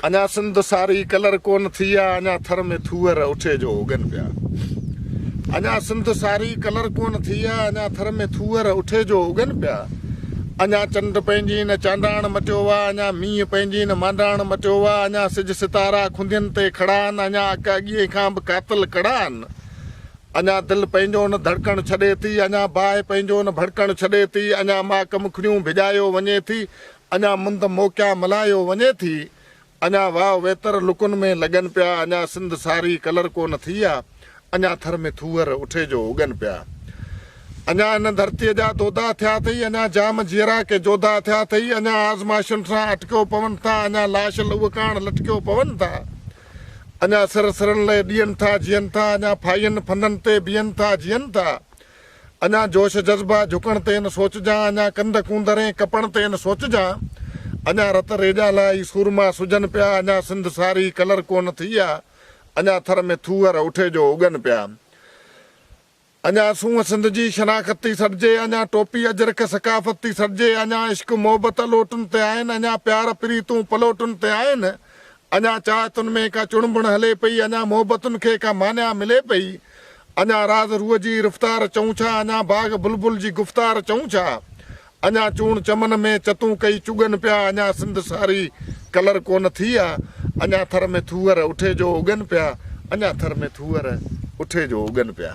اڃا سنڌ ساري ڪلر ڪون ٿي آ اڃا ٿر ۾ ٿوهر اٺي جو اگن پيا اڃا سنڌ ساري ڪلر ڪون ٿي آ اڃا ٿر ۾ ٿوهر اٺي جو اگن پيا اڃا چنڊ پنهنجي نه چانڊاڻ مٽيو آ اڃا مينهن پنهنجي نه مانڊاڻ مٽيو آ اڃا سج ستارا کندين تي کڙا آهن اڃا اڪ اڳيئي کان به قاتل ڪڙا آهن اڃا دل پنهنجو نه ڌڙڪڻ ڇڏي ٿي اڃا باهه پنهنجو نه ڀڙڪڻ ڇڏي ٿي اڃا ماڪ مکڙيون ڀڄايو وڃي ٿي اڃا مند موڪيا ملهايو وڃي ٿي، اڃا واء ويتر لڪن ۾ لڳن پيا، اڃا سنڌ ساري ڪلر ڪونه ٿي آ، اڃا ٿر ۾ ٿوهر اٺي جو اگن پيا، اڃا ان ڌرتيء جا دودا ٿيا اٿئي، اڃا جام جيئرا ڪي جوڌا اٿيا اٿئي، اڃا آزمائشن سان اٽڪيو پون ٿا، اڃا لاش لهو ڪاڻ لٽڪيو پون ٿا، اڃا سر سرن لئه ڏين ٿا جيئن ٿا، اڃا ڦاهين ڦندن تي بيهن ٿا جيئن ٿا، اڃا جوش جذبا جهڪڻ تي نه سوچجان اڃا ڪنڌ ڪونڌرين ڪپڻ تي نه سوچجان اڃا رت ريڄان لاء ئي سورما سجن پيا اڃا سنڌ ساري ڪلر ڪونه ٿي آ اڃا ٿر ۾ ٿوهر اٺي جو اڳن پيا اڃا سونهن سنڌ جي شناخت ٿي سڏجي اڃا ٽوپي اجرڪ ثقافت ٿي سڏجي اڃا عشق محبت الوٽن تي آهن اڃا پيار پريتون پلوٽن تي آهن. اڃا چاهتن ۾ ڪا چڻبڻ هلي پئي، اڃا محبتن کي ڪا مانيا ملي پئي، اڃا راز روح جي رفتار چئون ڇا، اڃا باغ بلبل جي گفتار چئون ڇا، اڃا چوڻ چمن ۾ چتون ڪئي چڳن پيا، اڃا سنڌ ساري ڪلر ڪونه ٿي آ، اڃا ٿر ۾ ٿوهر اٺي جو اڳن پيا، اڃا ٿر ۾ ٿوهر اٺي جو اڳن پيا.